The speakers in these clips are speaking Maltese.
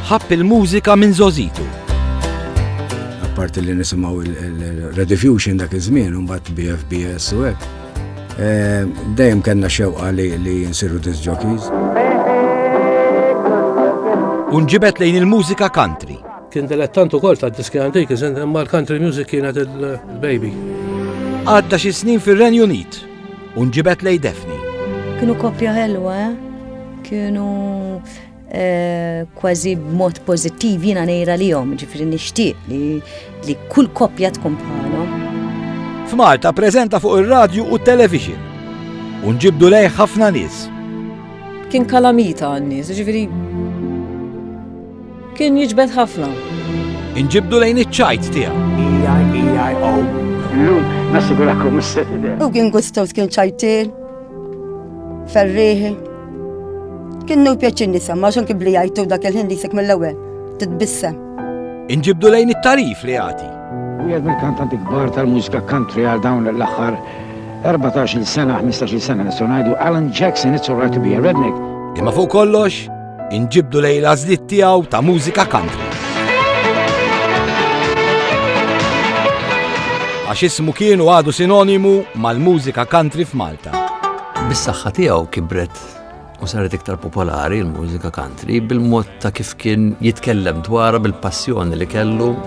Ħabb il-mużika minn Zozitu. Apparti li nisimgħu il-Rediffusion dak iż-żmien u mbagħad BFBS u hekk. Eh, dejjem kellna xewqa li li nsiru disc jockeys. Unġibet lejn il-mużika country. Kien dilettant ukoll ta' diski antik, iżen mal-country music kienet il-baby. Għadda xi snin fir-Renju Unit. U nġibet lej Daphne. Kienu koppja ħelwa, eh? kienu eh, kważi b'mod pozittiv jiena nejra li jom, ġifri nixtieq li kull koppja tkun bħalhom. F'Malta preżenta fuq ir-radju u t-television. U nġibdu lej ħafna nies. Kien kalamita għan-nies, ġifri Kien jiġbed ħafna. Inġibdu lejn iċ-ċajt tiegħu. E-I-E-I-O. Llum nassigurakom is-setide. U kien gustows kien ċajtil, ferriħi. Kien nu pjaċin nisem, għax anki bli jajtu dak il-ħin li jisek mill-ewwel, titbissem. Inġibdu lejn it-tarif li jagħti. Wieħed mill-kantanti kbar tal-mużika country għal dawn l-aħħar 14 sena, 15 sena nistgħu ngħidu Alan Jackson, it's alright to be a redneck. Imma fuq kollox, Inġibdu lejn l-għażliet tiegħu ta' mużika country. Għax ismu kienu għadu sinonimu mal-mużika country f'Malta. Bis-saħħa tiegħu kibret u saret iktar popolari l-mużika country bil-mod ta' kif kien jitkellem dwarha bil-passjoni li kellu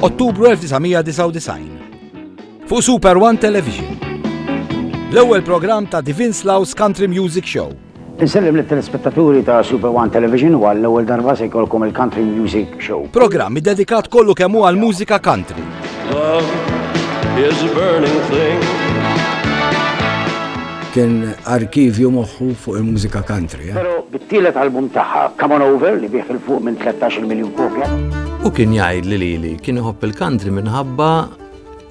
Ottubru 1999. Fuq Super One Television. L-ewwel programm ta' Divin Slaus Country Music Show. Insellem li telespettaturi ta' Super One Television u għall-ewwel darba se jkollkom il-Country Music Show. Programm dedikat kollu kemm għal mużika country. Love is a burning thing. Kien arkivju moħħu fuq il-mużika country. Però bit-tielet album tagħha, Come On Over, li biegħ 'il fuq minn tlettax-il miljun kopja. Hu kien jgħid li lili kien iħobb il-country minħabba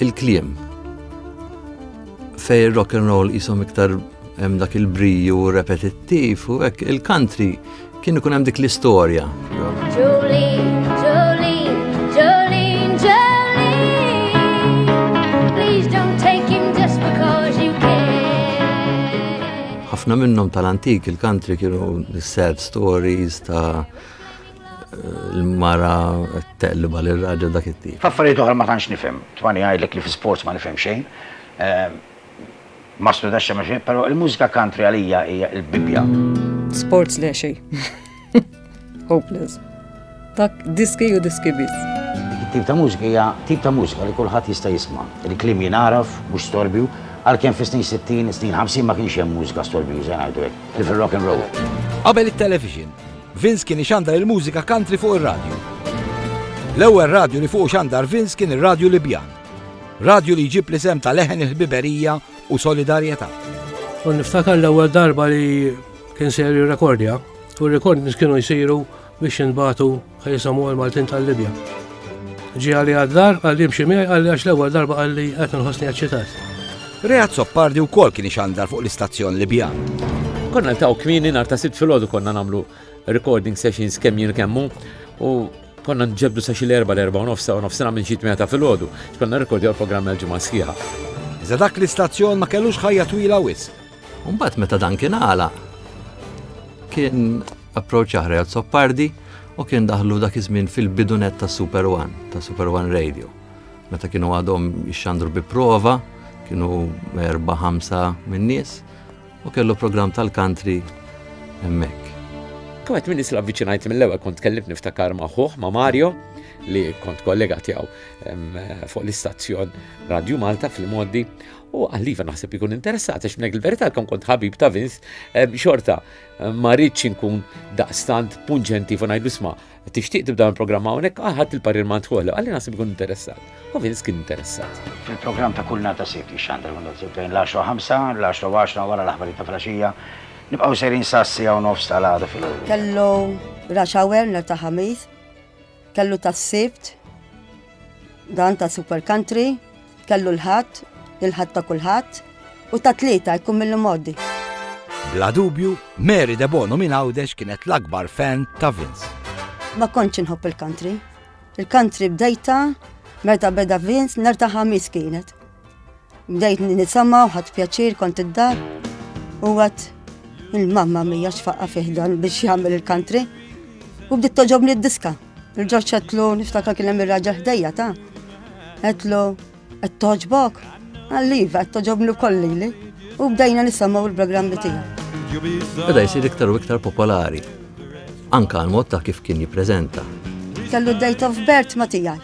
il-kliem. Fej rock and roll qishom iktar hemm dak il-briju repetittiv u hekk il-country Kien ikun hemm dik l-istorja. ħafna minnhom tal-antik il-country kienu sad stories ta' l-mara t-telliba l-raġel dak it-tip. Faffariet oħra ma tantx nifhem, twani għajdlek li fi sports ma nifhem xejn. Ehm, Ma studjax xejn ma xejn, però il-mużika country għalija hija l-bibja. Sports le xejn. Hopeless. Dak diski u diski biss. Tip ta' mużika hija tip ta' mużika li kulħadd jista' jisma'. Il-klim jingħaraf, mhux storbju, għalkemm fis-snin 60, snin 50 ma kienx hemm mużika storbjuża ngħidu hekk, li fil-rock and roll. Qabel it-television, Vince kien ixandar il-mużika country fuq ir-radju. L-ewwel radju li fuq xandar Vince kien ir-radju Libjan. Radju li jġib l-isem ta' leħen il-ħbiberija u solidarjetà. U niftakar l-ewwel darba li kien ser rekordja u rekord kienu jsiru biex jinbatu ħaj Samuel Maltin tal-Libja. Ġi għalli għaddar, għalli mxi miegħi għalli għax l-ewwel darba għalli qed nħossni eċċitat. Reat Soppardi wkoll kien ixandar fuq l-istazzjon Libjan. Konna ntaw kmini nar ta' sitt filgħodu konna nagħmlu recording sessions kemm jien kemmu u Konna nġebbdu sa xi l-erbgħa, l-erbgħa u nofs sa nofsinhar minn xi tmienja ta' filgħodu għax konna nirrekordjaw il-programmi għall-ġimgħa sħiħa. Iżda dak l-istazzjon ma kellux ħajja twila wisq. U mbagħad meta dan kien għala, kien approċċ aħra Azzopardi u kien daħlu dak iż-żmien fil-bidunet ta' Super One, ta' Super One Radio. Meta kienu għadhom ixxandru bi prova, kienu erba' ħamsa min-nies, U kellu programm tal-country hemmhekk. Kont minn isla viċinajt mill-ewwel kont tkellimt niftakar ma' ħuħ ma' Mario li kont kollega tiegħu fuq l-istazzjon Radio Malta fil-moddi u għalliva naħseb ikun interessat għax minnek il-verità kon kont ħabib ta' Vince xorta ma rridx inkun daqstant punġenti fu ngħidu sma' Tixtieq tibda minn programm hawnhekk ah, ħadd il-parir ma ntħolla, għalli naħseb ikun interessat. U Vince kien interessat. Fil-programm ta' kull nata sibt jixxandar minn nofs bejn l-10 ħamsa, l-10 għaxra wara l-aħbarijiet ta' flaxija. Nibqgħu sejrin sa sija u nofs tal-għada fil Kellu rush hour nhar ta' Ħamis, kellu tas-Sibt, Dan ta' Super Country kellu l-ħadd, il-ħadd ta' kulħadd u ta' tlieta jkun mill modi. Bla dubju, Mary De Bono minn Għawdex kienet l-akbar fan ta' Vince. Ma kontx inħobb il-country. Il-country bdejta meta beda Vince nertaħa mis kienet. Bdejt nisama u ħadd pjaċir kont id-dar u għat il-mamma mija xfaqqa fiħdan biex jagħmel il-country u bdiet toġobni d-diska. Il-ġorġ għetlu niftakar kien hemm ir-raġel ħdejja ta' għetlu qed toġbok għalliva qed toġobni kolli li u bdejna nisimgħu l-programmi tiegħu. Beda jsir iktar u iktar popolari anka l-mod ta' kif kien jippreżenta. Kellu date of birth ma tiegħi.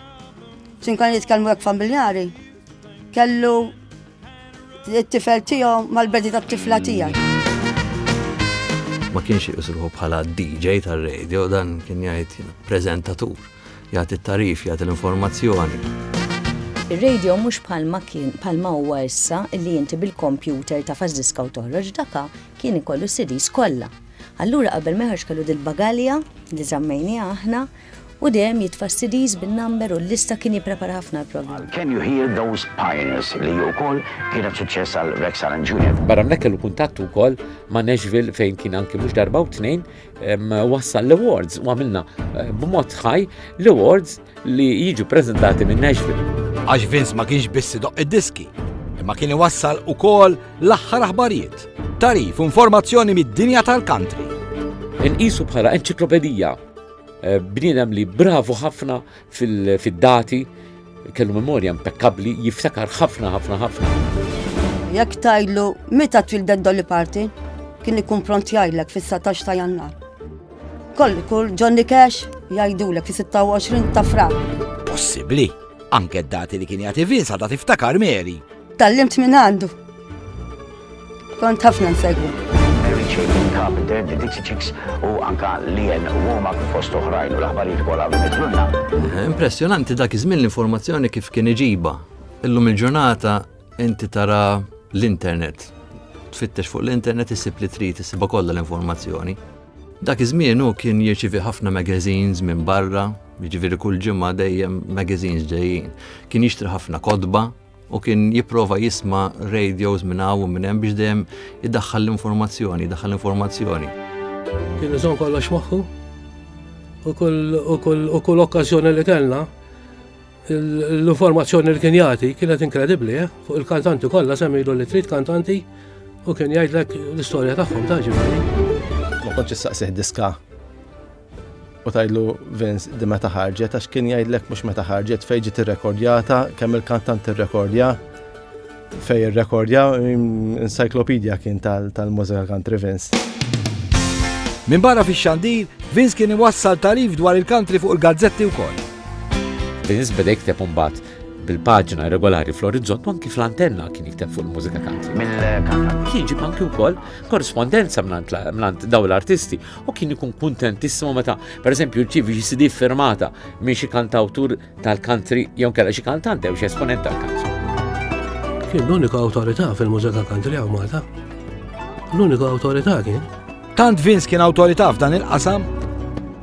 Ċin kan jitkellmu hekk familjari, Kellu t-tifel tiegħu mal-bedi tat-tifla tiegħi. Ma kienx jisruħu bħala DJ tar-radio dan kien jgħid preżentatur, jagħti t-tarif, jagħti l-informazzjoni. Ir-radio mhux bħalma kien bħalma huwa issa li inti bil-kompjuter ta' fażiska u toħroġ daka kien ikollu CDs kollha. Allura qabel meħarġ kellu dil-bagalja li żammejni aħna U dejjem jitfa' s-CDs bin-number u l-lista kien jipprepara ħafna l-programm. Can You Hear Those Pioneers li hi wkoll kienet suċċess għal Rex Allen Junior. Barra minn hekk kellu kuntatt ukoll ma' Nashville fejn kien anki mhux darba u tnejn wassal l-awards u għamilna b'mod ħaj l-awards li jiġu ppreżentati minn Nashville. Għax Vince ma kienx biss idoqq id-diski, imma kien iwassal ukoll l-aħħar aħbarijiet, tagħrif u informazzjoni mid-dinja tal-country. Inqisu bħala enċiklopedija. Eh, bniedem li bravu ħafna fil-dati, kellu memorja impeccabli, jiftakar ħafna ħafna ħafna. Jekk tajlu, meta twildet dolli parti, kien ikun pront jgħidlek fis-19 ta' jannar. Koll kull Johnny Cash jgħidulek fis-26 ta' frar. Possibbli, anke d-dati li kien jagħti Vince għadha tiftakar Mary. Tallimt minn għandu. Kont ħafna nsegwu. Mary Chapin Carpenter, The Dixie Chicks u anka Lien Womack fost oħrajn u l-aħbarijiet kollha bimetlunna. Eh, impressjonanti dak iż-żmien l-informazzjoni kif kien iġiba. Illum il-ġurnata inti tara l-internet. Tfittex fuq l-internet isib li trid isibha kollha l-informazzjoni. Dak iż-żmien hu kien jirċivi ħafna magazines minn barra, jiġifieri kull ġimgħa dejjem magazines ġejjin. Kien jixtri ħafna kodba, u kien jipprova jisma radios minn hawn u minn hemm biex dejjem idaħħal l-informazzjoni, idaħħal l-informazzjoni. Kien iżon kollox magħhu u kull okkażjoni li kellna l-informazzjoni li kien jagħti kienet inkredibbli, eh? fuq il-kantanti kollha semmilu li trid kantanti u kien jgħidlek l-istorja tagħhom ta' ġifieri. Ma kontx issaqsih diska U tgħidlu Vince di meta ħarġet għax kien jgħidlek mhux meta ħarġet fejn ġiet irrekordjata, kemm il-kantant irrekordja, fejn irrekordja, encyclopedia kien tal-mużika country Vince. Min barra fi xandir, Vince kien iwassal tarif dwar il-country fuq il-gazzetti wkoll. Vince beda jikteb mbagħad bil-paġna regolari fl-orizzont anki fl-antenna kien jikteb fuq il-mużika country. Kien ġib anki wkoll korrispondenza mlant daw l-artisti u kien ikun kuntentissimo meta, per eżempju, rċivi xi CD firmata minn xi kantawtur tal-country jew kella xi kantant jew xi esponent tal-country. Kien l-unika awtorità fil-mużika country għaw Malta. L-unika awtorità kien. Tant Vince kien awtorità f'dan il-qasam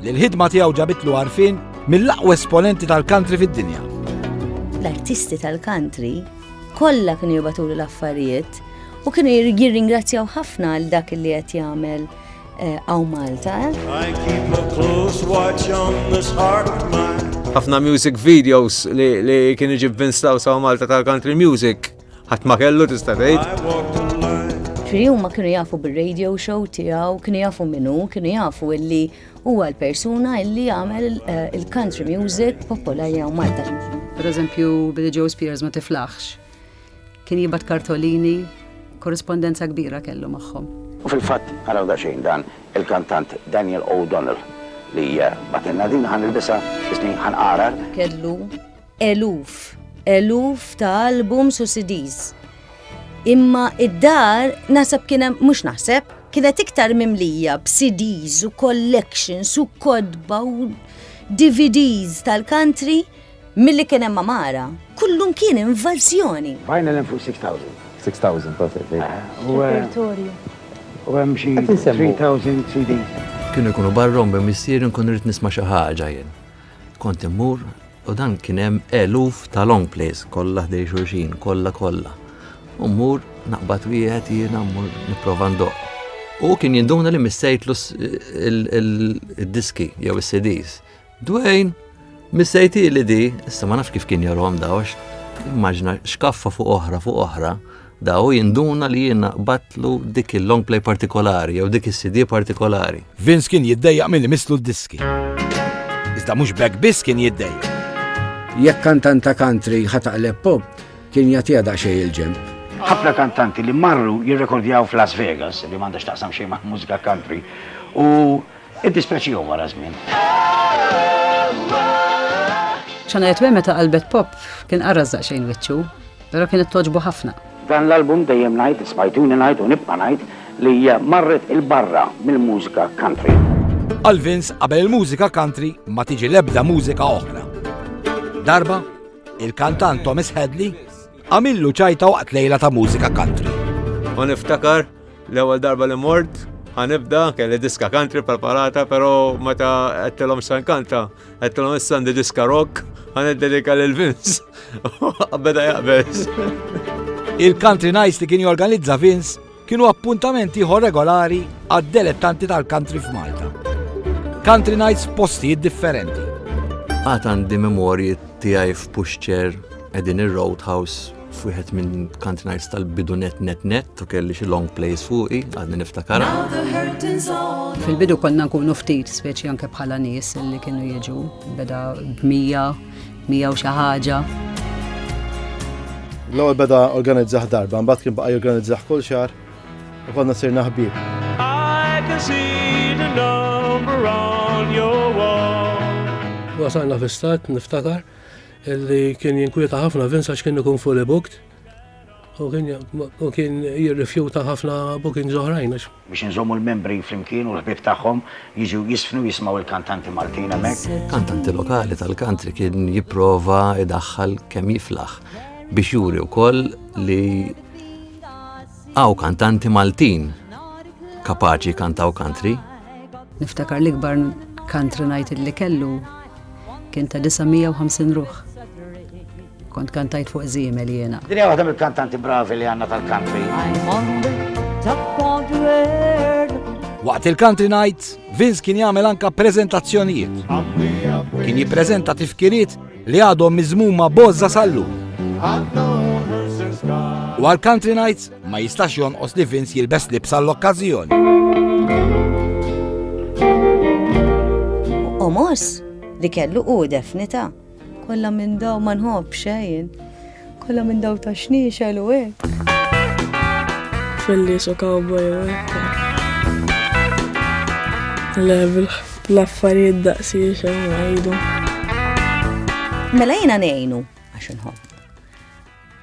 li l-ħidma tiegħu ġabitlu għarfien mill-aqwa esponenti tal-country fid-dinja. L-artisti tal-country kollha kienu jibatulu l-affarijiet u kienu jirringrazzjaw ħafna għal dak li qed jagħmel Aw Malta. Ħafna music videos li kien iġib Vince Laws għaw Malta tal-country music ħadd ma kellu tista' tgħid. Ġifieri huma kienu jafu bir-radio show tiegħu, kienu jafu minnu, kienu jafu illi huwa l-persuna illi għamel eh, il-country music popolari għaw Malta. Per eżempju, Billy Joe Spears ma tiflaħx. Kien jibgħat kartolini, korrispondenza kbira kellu magħhom. U fil-fatt araw daqsxejn dan il-kantant Daniel O'Donnell li batilna din ħan ilbisa isni ħan qarar. Kellu eluf, eluf ta' albums u CDs. Imma id-dar naħseb kien hemm mhux naħseb kienet iktar mimlija b'CDs u collections u kodba u DVDs tal-country Milli kien hemm għamara, kullum kien invażjoni. Bajna l-hemm fuq 6,000. 6,000, that's it. Repertorju. U hemm xi 3,000 CDs. Kienu jkunu barra u minn missieri nkun irrid nisma' xi ħaġa jien. Kont immur u dan kien hemm eluf ta' long plays kollha ħdej xulxin, kollha kollha. U mmur naqbad wieħed jiena mmur nipprova ndoqq. U kien jinduna li missejtlu d-diski jew is-CDs. Dwayne, missejti li di, issa ma nafx kif kien jarom daw, immaġna xkaffa fuq oħra fuq oħra, daw jinduna li jiena batlu dik il-long play partikolari jew dik is-CD partikolari. Vince kien jiddejjaq milli mislu d-diski. Iżda mhux bekk biss kien jiddejjaq. Jekk kantant ta' country ħataqleb pop, kien jagħtiha daqsxejn il-ġemp. Ħafna kantanti li marru jirrekordjaw f'Las Vegas, li m'għandha x'taqsam xejn ma' mużika country, u Iddispjaċihom wara żmien. Shania Twain meta qalbet pop kien qarras daqsxejn wiċċu, però kienet togħġbu ħafna. Dan l-album dejjem ngħid, smajtuni ngħid u nibqa' ngħid li hija marret 'il barra mill-mużika country. Għal Vince qabel il-mużika country ma tiġi l-ebda mużika oħra. Darba, il-kantant Thomas Hadley għamillu ċajta waqt lejla ta' mużika country. U niftakar L-ewwel darba li mort, ħanibda, kelli diska country preparata, pero meta għettilom san kanta, għettilom issa għandi diska rock, ħaneddelika lil Vince. Beda jaqbeż. Il-country nights li kien jorganizza Vince kienu appuntamenti ieħor regolari għad-delettanti tal-country f'Malta. Country nights postijiet differenti. Għat għandi memorji tiegħi f'Puxċer edin ir-Roadhouse f'wieħed minn country nights tal-bidu net net net u kelli xi long plays fuqi għadni niftakara. Fil-bidu konna nkunu ftit speċi anke bħala nies li kienu jiġu beda b'mija, mija u xi ħaġa. L-ewwel beda organizzaħ darba, mbagħad kien baqa' jorganizzah kull xahar u konna sirna ħbieb. Wasalna fi stat niftakar Illi kien jinkwieta ħafna Vince għax kien ikun fully booked u kien jirrifjuta ħafna bookings oħrajn għax. Biex inżommu l-membri flimkien u l-ħbieb tagħhom jiġu jiżfnu u jismgħu l-kantanti Maltin hemmhekk. Kantanti lokali tal-country kien jipprova jdaħħal kemm jiflaħ biex juri wkoll li Hawn kantanti Maltin kapaċi jkantaw country. Niftakar l-ikbar country night li kellu kien ta' 950 ruħ. Kont kantajt fuq zimel jena. Dinja waħda mill-kantanti bravi li għanna tal-country. Waqt il-country night, Vince kien jagħmel anka prezentazzjonijiet. Kien jippreżenta tifkiriet li għadhom miżmuma bożża sal-lum. U għal Country Nights ma jistax jonqos li Vince jilbes libsa l-okkażjoni. Omos li kellu u definita kollha minn daw ma nħobb xejn. Kollha minn dawl ta' xniexel u hekk. Fillies u cowboy u hekk. Le, bl-affarijiet daqsiex hemm ngħidu. Mela jiena ngħinu għax inħobb.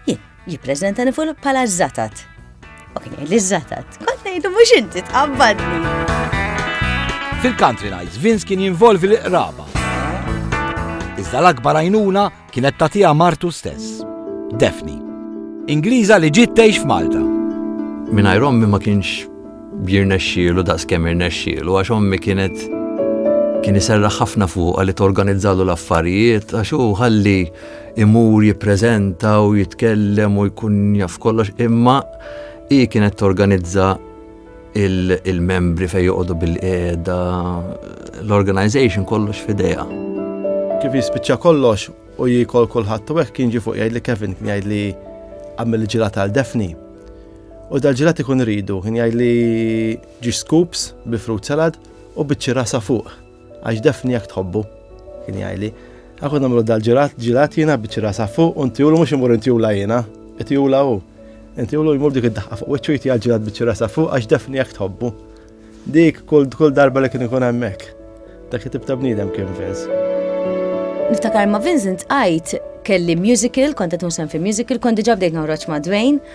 Jien jippreżentani fuq bħala żatat. U kien jgħid li żatat. Kont ngħidu mhux inti tqabbadni. Fil-country nights Vince kien jinvolvi l-qraba. Iżda l-akbar għajnuna Kienet tagħtiha martu stess, Daphne, Ingliża li ġiet tgħix f'Malta. Mingħajr ommi ma kienx jirnexxielu daqskemm irnexxielu għax ommi kienet kien iserra ħafna fuqa li torganizzalu l-affarijiet, għax hu ħalli imur jippreżenta u jitkellem u jkun jaf kollox, imma hi kienet torganizza il-membri fejn joqogħdu bil-qiegħda, l-organization kollox f'idejha. Kif jispiċċa kollox u jikol kulħadd u hekk kien ġi fuq jgħid li Kevin kien jgħid li għamil ġilat għal Defni. U dal-ġilat ikun ridu, kien jgħid li ġi scoops bi fruit salad u biċċi rasa fuq. Għax defni jekk tħobbu, kien jgħidli. Aħna nagħmlu dal-ġirat, ġirat jiena biċċi rasa fuq u ntijulu mhux imur intijula jiena, itijula hu. Intijulu jmur dik id-daħqa fuq wiċċu jti għal-ġirat biċċi rasa fuq għax defni jekk tħobbu. Dik kull kull darba li kien ikun hemmhekk. Dak it-tip ta' bniedem kien Vince. Niftakar ma' Vincent għajt kelli musical, kont qed fi musical, kont diġà bdejt noħroġ ma' Dwayne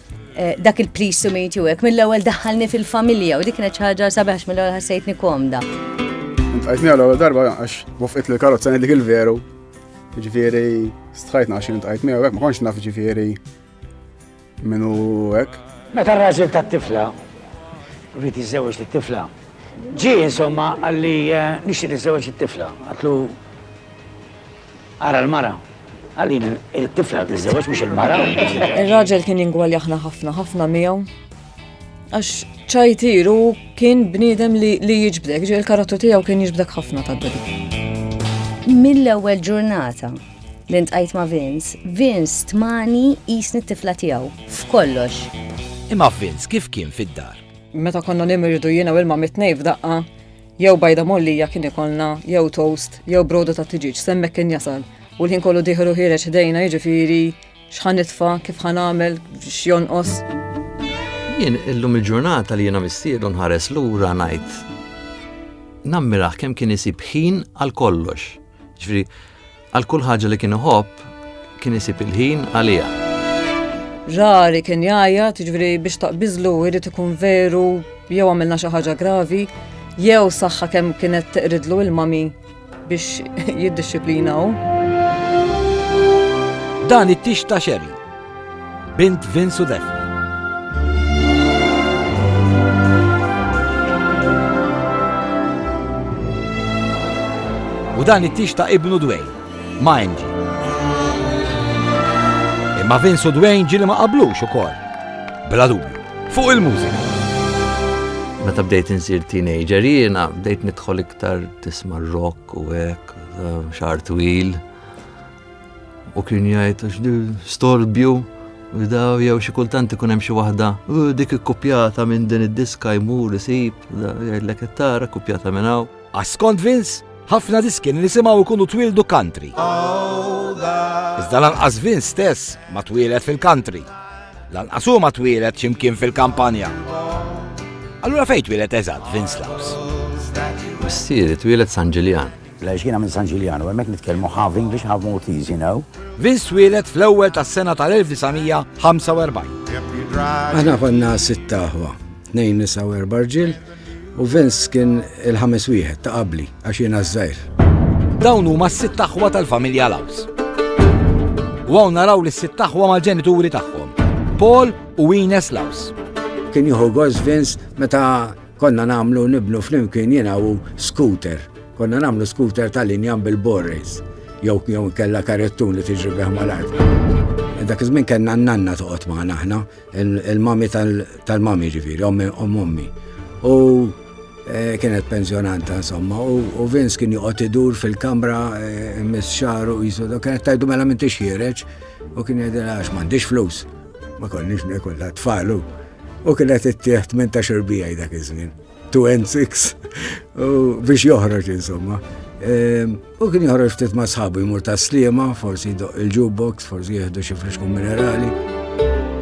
Eh, dak il-please to meet you hekk mill-ewwel daħalni fil-familja u dik kienet xi ħaġa sabiħx mill-ewwel ħassejtni komda. Għajtni għal ewwel darba għax wafqit li karozza dik il-veru. Ġifieri stħajtna għax int għajtni hekk ma kontx naf ġifieri minnu hekk. Meta r-raġel tat-tifla rrid iżewġ lit-tifla. Ġi insomma għalli eh, nixtieq iżewġ it-tifla. Għatlu Ara l-mara. Għalina il-tifla tiżżewġ mhux il-mara. Ir-raġel kien jingwaljaħna ħafna ħafna miegħu. Għax ċajtir u kien bniedem li jiġbdek, ġi l-karattu tiegħu kien jiġbdek ħafna ta' dadi. Mill-ewwel ġurnata li ntqajt ma' Vince, Vince tmani jisni t-tifla tiegħu f'kollox. Imma Vince kif kien fid-dar? Meta konna nimirdu jiena u ilma mitnej f'daqqa, Jew bajda mollija kien ikollna, jew toast, jew broda ta' tiġiġ, semmek kien jasal. U l-ħin kollu diħru ħireġ ħdejna jiġifieri x'ħan nitfa, kif ħan għamel, x'jonqos. Jien illum il-ġurnata li jiena missielu nħares lura ngħid. Nammiraħ kemm kien isib ħin għal kollox. Ġifieri Għal kull ħaġa li kien iħobb, kien isib il-ħin għaliha. Rari kien jgħajja, tiġveri biex taqbizlu irrid ikun veru jew għamilna xi ħaġa gravi, jew saħħa kemm kienet teqridlu il-mami biex jiddisciplinaw. Dan it-tix ta' xeri Bint Vince u Daphne. U dan it-tix ta' ibnu Dwayne, ma' Angie. Imma Vince u Dwayne ġili ma qablux ukoll. Bla dubju, fuq il-mużika. Meta bdejt insir teenager jiena bdejt nidħol iktar tisma' rock u hekk, xar twil. U kien jgħid għax di storbju daw jew xi kultant ikun hemm xi waħda dik ikkupjata minn din id-diska jmur isib jgħidlek qed tara kkupjata minn hawn. Għaskont Vince, ħafna diski li nisimgħu jkunu twildu country. Iżda lanqas Vince stess ma twielet fil-country. Lanqas hu ma twielet x'imkien fil-kampanja. Allura fejn twielet eżatt Vince Laws? Missieri twielet San Ġiljan. Għaliex jiena minn San Ġiljanu, hemmhekk nitkellmu half English, half Maltese, you know. Vince twieled fl-ewwel tas-sena tal-1945. Aħna konna sitt aħwa, tnejn nisa u erba' rġiel, u Vince kien il-ħames wieħed ta' qabli għax jiena żgħir. Dawn huma s-sitt aħwa tal-familja Laws. U hawn naraw li s-sitt aħwa mal-ġenituri tagħhom, Paul u Ines Laws. Kien jieħu gost Vince meta Konna nagħmlu nibnu flimkien jiena u scooter. Konna nagħmlu scooter tal-injam bil-borrays jew jew inkella karettun li tiġri bih mal-art. Dak iż-żmien kellna n-nanna toqgħod magħna aħna, il-mami tal-mami ġifieri, ommi omm ommi. U eh, kienet pensjonanta insomma, u Vince kien joqgħod idur fil-kamra eh, mis xaru jisu, kienet tajdu mela minn tixħireġ, u kien jgħidilha għax m'għandix flus. Ma konniex nekolla tfalu. U kienet ittieħ 18 bija dak iż-żmien. 2 and 6 biex joħroġ insomma. Ehm, u kien joħroġ ftit ma' sħabu jmur ta' slima, forsi jdoq il-jukebox, forsi jieħdu xi friskun minerali.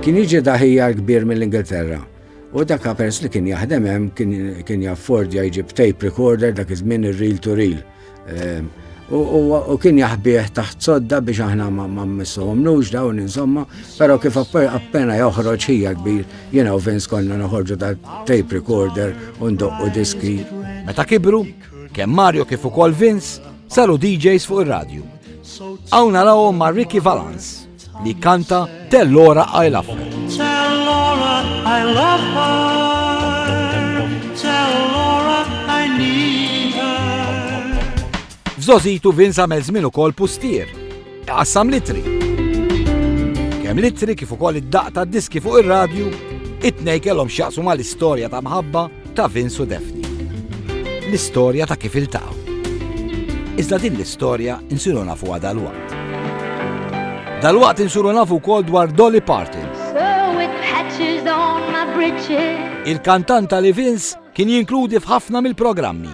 Kien jiġi daħija kbir mill-Ingilterra. U dak pers li kien jaħdem hemm kien jaffordja jġib tape recorder dak iż-żmien ir-reel to reel. Ehm, u kien jaħbieħ taħt sodda biex aħna ma missuhom nux dawn insomma, pero kif appena joħroġ ħija kbir, jena u Vince konna noħorġu ta' tape recorder u ndoqqu diski. Meta kibru, kemm Mario kif ukoll Vince saru DJs fuq ir-radju. Hawn narawhom ma' Ricky Valance. li jkanta Tell Laura I Love Her. Tell Laura I love her, tell Laura I need her. F'żożitu Vince għamel żmien ukoll pustier, iqassam litri. Kemm litri kif ukoll id-daqq tad-diski fuq ir-radju, it-tnejn kellhom x'jaqsu mal-istorja ta' mħabba ta' Vince u Daphne. L-istorja ta' kif iltaqgħu. Iżda din l-istorja insiru nafuha dalwaqt. Dalwaqt insiru nafu wkoll dwar Dolly Parton. Il-kantanta li Vince kien jinkludi f'ħafna mill-programmi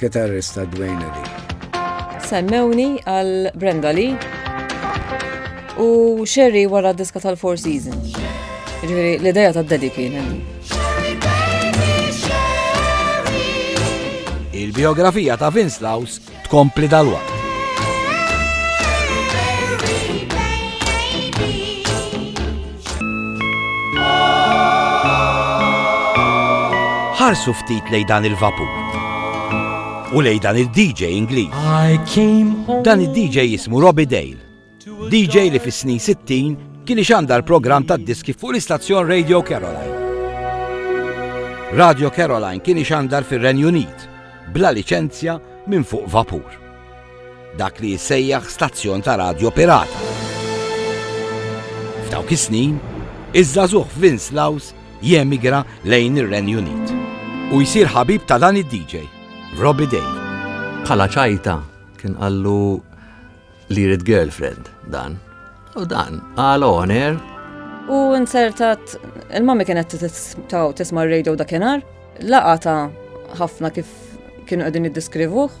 Kitarrist ta' Dwayne Lee. Semmewni għal Brenda Lee u Sherry wara diska tal-Four Seasons. Ġifieri l-idea ta' Daddy kien Il-biografija ta' Vince Laus tkompli dal-waqt. Ħarsu ftit lejn dan il-vapur. U lejn dan il-DJ Ingliż. Dan il-DJ jismu Robbie Dale. DJ li fis-snin 60 kien ixandar program tad-diski fuq l-istazzjon Radio Caroline. Radio Caroline kien ixandar fir-Renju Unit bla liċenzja minn fuq vapur. Dak li jissejjaħ stazzjon ta' radjo pirata. F'dawk is-snin, iż-żagħżugħ Vince Laws jemigra lejn ir-Renju Unit u jsir ħabib ta' dan id-DJ, Robbie Day. Bħala ċajta kien qallu li jrid girlfriend dan. U dan, għal oner. U insertat, il-mami kienet taw tisma radio dakinar, laqa ta' ħafna kif kienu għedin id-diskrivuħ,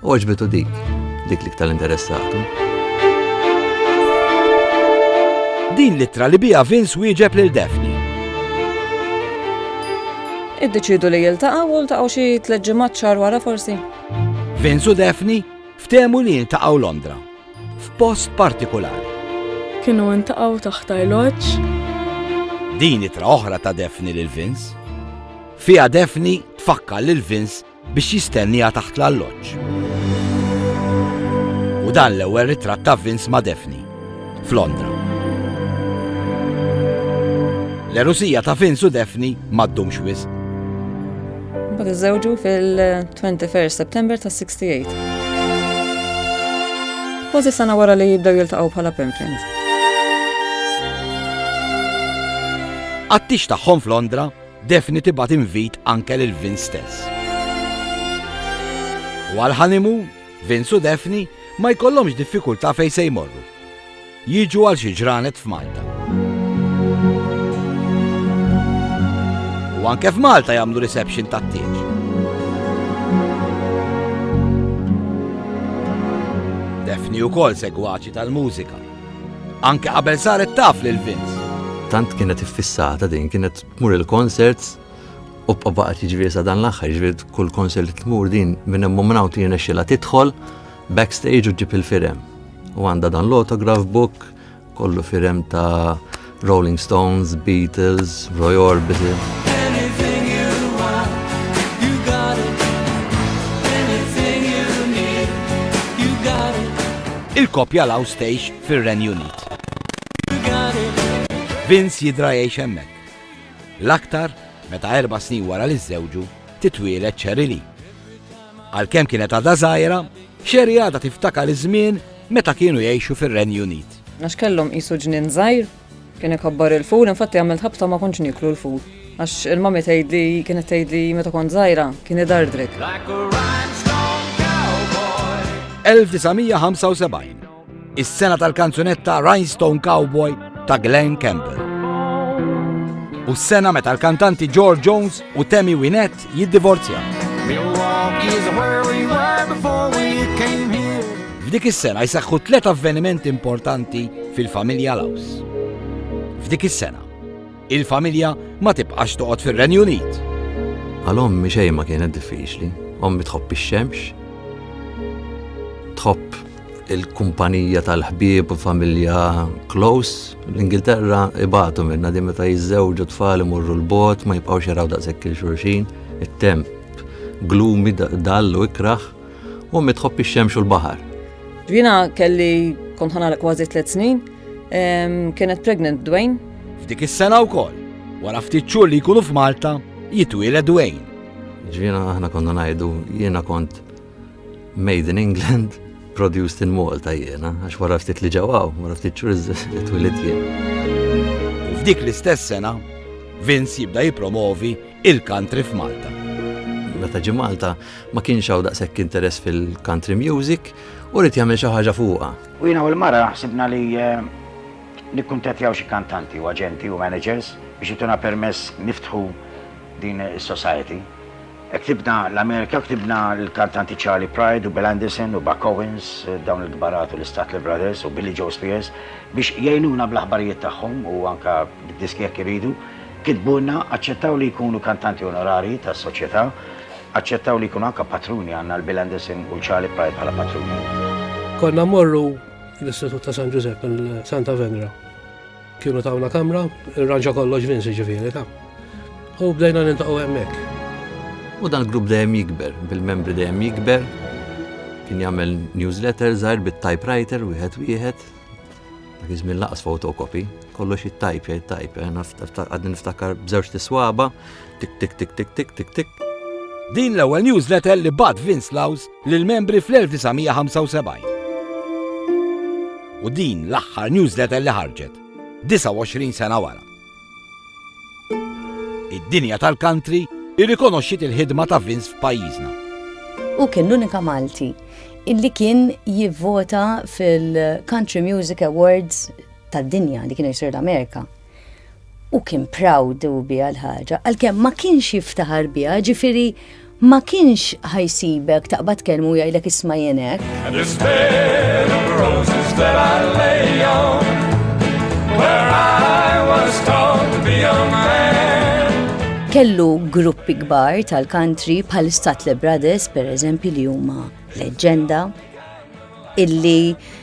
U għaġbitu dik, dik li ktar interessatu. Din l-ittra li bija Vince wieġeb lil Daphne. Iddeċidu li jiltaqgħu u ltaqgħu xi tliet ġimgħat xahar wara forsi. Vince u Daphne ftehmu li jiltaqgħu Londra f'post partikolari. Kienu ntaqgħu taħt arloġġ. Din itra oħra ta' Daphne lil Vince. Fija Daphne tfakkar lil Vince biex jistenniha taħt l-alloġġ. U dan l-ewwel ritratt ta' Vince ma' Daphne, f'Londra. L-erusija ta' Vince u Daphne ma ddumx wisq. Bad iżewġu fil-21 September ta' 68. Kważi sena wara li jibdew jiltaqgħu bħala pen friends. Għattix tagħhom f'Londra Daphne tibgħat invit anke lil Vince stess. U għall-honeymoon, Vince u Daphne ma jkollhomx diffikultà fejn se jmorru. Jiġu għal xi ġranet f'Malta. U anke f'Malta jagħmlu reception tat-tieġ. Daphne ukoll segwaċi tal-mużika. Anke qabel saret taf lil Vince. Tant kienet iffissata din, kienet tmur il-concerts u baqgħet jiġri sa dan l-aħħar, jiġri kull concert li tmur din minn hemm minn hawn tiena xilha tidħol backstage u ġib il-firem. U għandha dan l-autograph book kollu firem ta' Rolling Stones, Beatles, Roy Orbison. Il-kopja law stejx fir-Renju Unit. Vince jidra jgħix hemmhekk. L-aktar meta erba' snin wara li żewġu titwielet Cherry Lee. Għalkemm kienet għadha żgħira, Cherry għadha tiftakar iż-żmien meta kienu jgħixu fir-Renju Unit. Għax kellhom qisu ġnien żgħir, kien ikabbar il-ful, infatti għamilt ħabta ma kontx nieklu l-ful. Għax il-mami tgħidli kienet tgħidli meta kont żgħira kien idardrek. L-1975, is-sena tal-kanzunetta Rhinestone Cowboy ta' Glenn Campbell. U s-sena meta l-kantanti George Jones u Tammy Wynette jiddivorzja. F'dik is-sena jseħħu tliet avvenimenti importanti fil-familja Laws. F'dik is-sena, il-familja ma tibqax toqgħod fir-Renju Unit. Għal ommi xejn ma kienet diffiċli, ommi tħobb ix-xemx, tħobb il-kumpanija tal-ħbieb u familja close. L-Ingilterra ibatu minna di meta jizzewġu tfal imorru l-bot, ma jibqawx jaraw daqshekk il-xurxin, it-temp glumi dallu ikraħ u mitħobb ix-xemx u l-baħar. Jina kelli kont ħanara kważi tliet snin, kienet pregnant Dwayne. F'dik is-sena wkoll, wara ftit xhur li jkunu f'Malta, jitwieled Dwayne. Ġvina aħna konna ngħidu jiena kont Made in England, produced in Malta jiena, għax wara ftit li ġewaw, wara ftit ċuriz twilit jien. U f'dik l-istess sena, Vince jibda jipromovi il-country f'Malta. Meta ġi Malta ma kienx hawn daqshekk interess fil-country music u rrid jagħmel xi ħaġa fuqha. U jiena u l-mara ħsibna li eh, nikkuntattjaw xi kantanti u aġenti u managers biex ituna permess niftħu din is-society. Ktibna l-Amerika, ktibna l-kantanti Charley Pride u Bill Anderson u Buck Owens, dawn il-kbar għatu l-Statler Brothers u Billie Joe Spears biex jgħinuna bl-aħbarijiet tagħhom u anke bid-diski jekk iridu. Kitbulna, aċċettaw li jkunu kantanti onorarji tas-Soċjetà, aċċettaw li jkunu anke patruni, għandna l-Bill Anderson u l-Charley Pride bħala patruni. Konna mmorru l-Istitut ta' San Ġużepp, il-Santa Venra. Kienu tawna kamra, irranġa kollox Vince ġifieri ta. U bdejna nintaqgħu hemmhekk. U dan grupp dejjem jikber, bil-membri dejjem jikber. Kien jagħmel newsletter żgħir bit-typewriter wieħed wieħed. Dak iż-żmien laqas fotokopi, kollox it-type, it-type, eh, għadni niftakar b'żewġ tiswaba, tik tik tik tik tik tik tik. Din l-ewwel newsletter li bad Vince Laws lill-membri fl-1975. U din l-aħħar newsletter li ħarġet, 29 sena wara. Id-dinja tal-country irrikonoxxiet il-ħidma ta' Vince f'pajjiżna. U kien l-unika Malti illi kien jivvota fil-Country Music Awards tad-dinja li kienu jisir l-Amerika. u kien proud u biha l-ħaġa, għalkemm ma kienx jiftaħar biha, ġifieri ma kienx ħajsibek taqbad kelmu jgħidlek isma' jien hekk. Kellu gruppi kbar tal-country bħal Statle Brothers, per eżempju, li huma leġenda, illi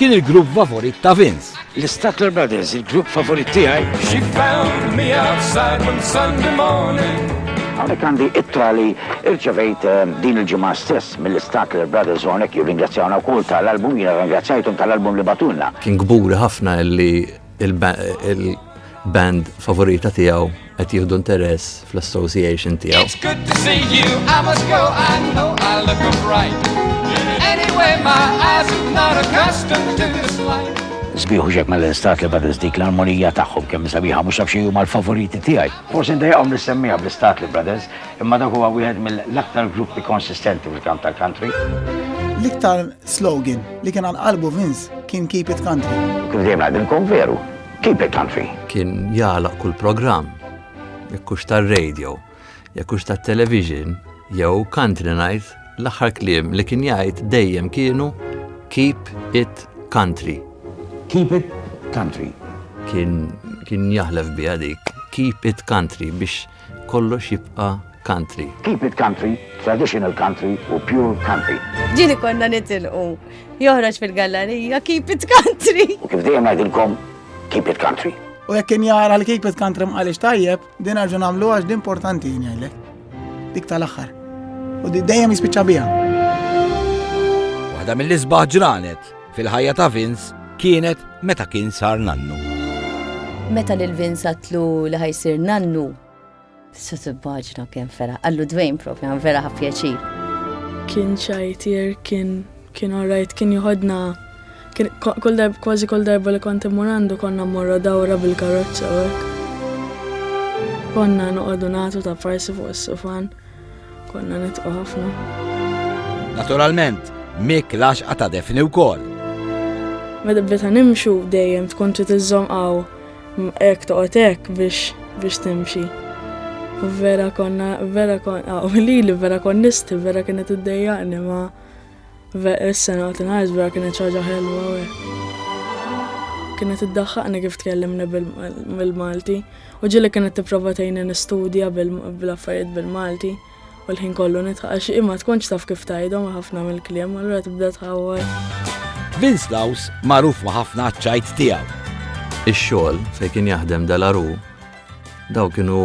Kien il-grupp favorit ta' Vince. L-Statler Brothers, il-grupp favorit tiegħi. She found me outside one Sunday morning. Għonek għandi ittra li irċevejt eh, din il-ġimgħa stess mill-Statler Brothers u għonek jirringrazzjawna wkoll tal-album, jiena ringrazzjajtum tal-album li batunna. Kien gburi ħafna li il-band favorita tiegħu qed jieħdu interess fl-association tiegħu. It's good to see you, I must go, I know I look upright. Anyway, my eyes are not accustomed to this light. Sbiħu ġek mal-istat li Brothers dik l-armonija tagħhom kemm sabiħa mhux nafx huma l-favoriti tiegħi. Forsi ndejqhom nissemmija bl-istat li Brothers, imma dak huwa wieħed mill-aktar gruppi konsistenti fil-kamp tal-country. L-iktar slogan li kien għal qalbu Vince kien Keep It Country. Kif dejjem ngħidilkom veru, Keep it country. Kien jagħlaq kull programm, jekk hux tar-radio, jekk hux tat-television, jew country night, l-aħħar kliem li kien jgħid dejjem kienu keep it country. Keep it country. Kien kien jaħlef biha dik keep it country biex kollox jibqa' country. Keep it country, traditional country u pure country. Ġieli konna nitilqu. Joħroġ fil-gallerija, keep it country. U kif dejjem ngħidilkom, keep it country. U jekk kien jara li keep it country mqalix tajjeb, din għarġu nagħmlu għax din importanti jien jgħidlek. Dik tal-aħħar. U dejjem jispiċċa biha. Waħda mill-isbaħ ġranet. Fil-ħajja ta' Vince kienet meta kien sar nannu. Meta lil Vince għatlu li ħajsir nannu, tista' tibbaġna kemm fera. Għallu Dwayne propja vera ħa pjaċir. Kien ċajtier, kien kien orajt, kien joħodna kull darba kważi kull darba li kont immur għandu konna morra dawra bil-karozza hekk. Konna noqogħdu nagħtu ta' farsi fuq is-sufan. Konna nitqu ħafna. Naturalment, Mick laxqa ta' Defni wkoll. Meta bdejta nimxu dejjem tkun trid iżżomm qaw hekk toqgħod hekk biex biex timxi. U vera konna, vera konna, u li li vera konnisti, vera kienet id-dejjaqni ma' Is-sena tingħid vera kienet ħaġa ħelwa hekk. Kienet iddaħħaqni kif tkellimni bil-Malti u ġieli kienet tipprova tgħinni nistudja bil-affarijiet bil-Malti u l-ħin kollu nitħaq xi ma tkunx taf kif tgħidhom ħafna mill-kliem allura tibda tħawwar. Vince Laws magħruf ma' ħafna ċajt tiegħu. Ix-xogħol fejn kien jaħdem dalaru daw kienu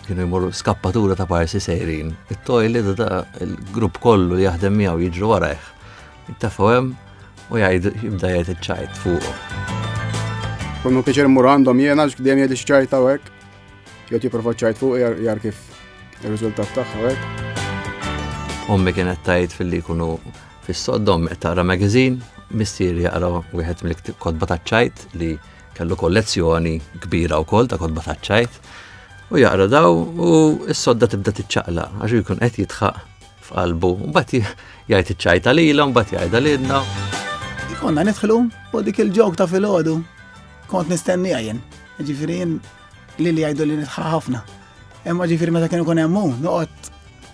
kienu jmorru skappatura ta' parsi sejrin. It-tojli da il-grupp kollu li jaħdem miegħu jiġru warajh. Jittafaw hemm u jgħidu jibda jgħid iċ-ċajt fuq. Kunu piċer mur għandhom jiena x'kdem jgħid iċ-ċajt ta' hekk. Jew tipprova ċajt fuq jar kif ir-riżultat tagħha hekk. Ommi kienet tajt fil-li kunu fis-soddom qed taqra magazine, mistieri jaqra wieħed mill-kotba ta' ċajt li Kellu kollezzjoni kbira wkoll ta' kotba taċ-ċajt u jaqra daw u s-sodda tibda tiċċaqla għax jkun qed jitħaq f'qalbu u mbagħad jgħid iċ-ċajta lilha mbagħad jgħidha lilna. Konna nidħlu u dik il-ġok ta' filgħodu kont nistenni għajin. Ġifieri li li jgħidu li nitħaq ħafna. Imma ġifieri meta kienu kun hemm noqgħod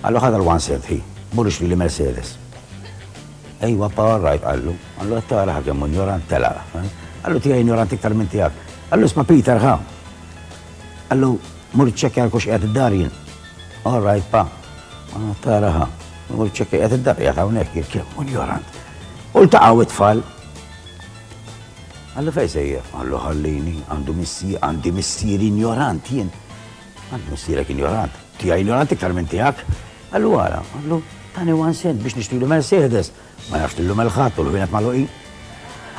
Qallu ħa dal-one serve ħi, murrix lili Mercedes. Ejwa pa all right qallu, qallu qed tara ħa kemm hu injorant telaq. Qallu tiegħi injorant iktar minn tiegħek. Qallu isma' Peter ħa. Qallu mur iċċekkja għal kux qiegħed id-dar jien. All right pa. Qallu qed tara ħa. Mur iċċekkja qiegħed id-dar qiegħed hawnhekk jien kemm hu injorant. U ltaqgħu it-tfal. Qallu fejn sejjer? Qallu ħallini, għandu missi, għandi missieri injorant jien. Għand missierek injorant, tiegħi injorant iktar minn tiegħek. Għallu għara, għallu tani one cent biex nixtri l Mercedes, ma nafx tillu melħat u l-ħwienet maluqin.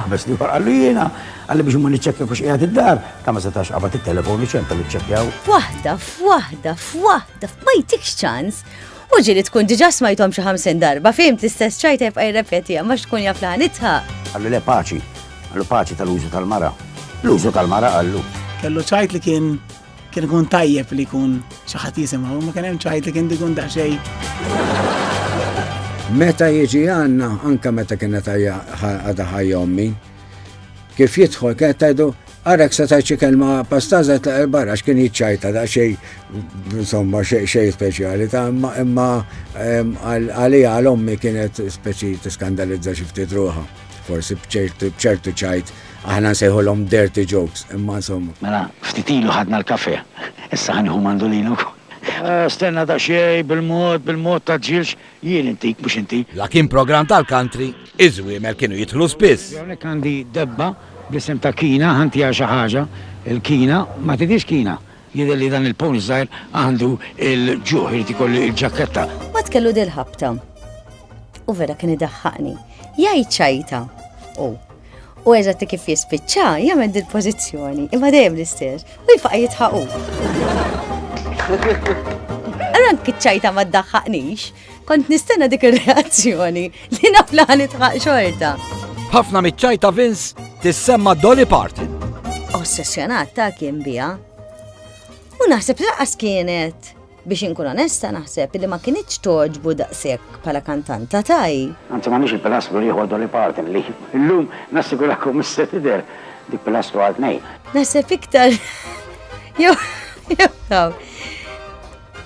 Għabes li għar għallu jiena, għalli biex mman iċċekja kux qiegħed id-dar, ta' ma setax għabat il-telefon iċċenta li ċċekjaw. F'waħda, f'waħda, f'waħda, ma jtikx ċans. U ġili tkun diġa smajtom xi ħamsin darba, fim l-istess ċajta jibqa' jirrepeti ma tkun jaf laħanitha. Għallu le paċi, għallu paċi tal-użu tal-mara. L-użu tal-mara għallu. Kellu ċajt li kien Kien ikun tajjeb li jkun xi ħadd jisimgħu, ma kien hemm ċajt li kien dikun daqsxejn. Meta jiġi għanna, anka meta kienet għada ħajja ommi, kif jidħol kienet tajdu għarek se tajċi kelma pastazet ta' barra x'kien jitċajta da' xej, insomma, xej speċjali ta' imma għalija għal-ommi kienet speċi t-skandalizza xifti druħa, forsi bċertu ċajt Aħna nsejħulhom dirty jokes, imma insomma. Mela, ftit ilu ħadna l-kafè, issa ħa nieħu mandulin ukoll. Stenna daqsxejn, bil-mod, bil-mod, tgħaġġilx, jien intik, mhux inti. La kien programm tal-country, iż-żwiemel kienu jidħlu spiss. Hawnhekk għandi debba bl-isem ta' Kina, ħantiha xi ħaġa, il-Kina, ma tidhirx Kina. Jidher li dan il-pony żgħir għandu l-ġuħ, irid ikollu l-ġakketta. Mbagħad kellu dil-ħabta. U vera kien idaħħaqni. Jgħid ċajta hu. U eżatti kif jispiċċa jagħmel dil-pożizzjoni, imma dejjem l-istess, u jfaqa' jitħaqu. Allura anki ċajta ma ddaħħaqnix. Kont nistenna dik ir-reazzjoni li naf li ħanitħaq xorta. Ħafna miċ-ċaj ta' Vince tissemma Dolly Parton. Ossessjonat ta' kien biha. U naħseb laqas kienet biex inkun onesta naħseb li ma kienieċ toġbu daqshekk bħala kantanta taj. Anzi ma nix il-pilastru li jħoddu li partin li l-lum nassigurakom misser tider dik pilastru għal nej. Naħseb iktar. Jew, jew,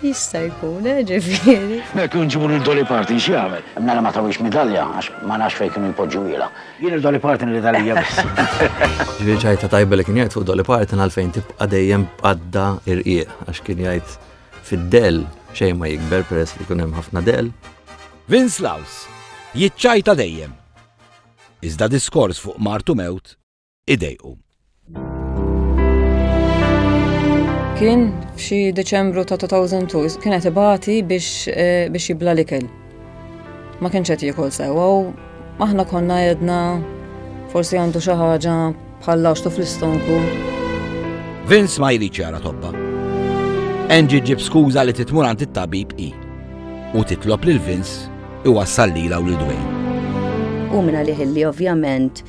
Jista' jkun, eh, ġifieri. Hekk u nġibu lil Dolly Parton x'jagħmel? Mela ma tawhiex midalja għax ma nafx fejn kienu jpoġġuhielha. Jien u Dolly Parton iridha lija biss. Ġifieri ċajta tajba li kien jgħid fuq Dolly Parton għalfejn tibqa' dejjem b'qadda irqieq għax kien jgħid fid-dell xejn ma jikber peress li jkun hemm ħafna dell. Vince Laws jiċċajta dejjem. Iżda diskors fuq martu mewt idejqu. Kien f'xi Deċembru ta' 2002 kien qed ibati biex eh, biex jibla l-ikel. Ma kienx qed jiekol sewwa u aħna konna jedna forsi għandu xi ħaġa bħal laxtu fl-istonku. Vince ma jrid ċara tobba. Angie ġib skuża li titmur għand it-tabib i u titlob lil Vince iwassal lila u lil Dwayne. U minna liħilli ovvjament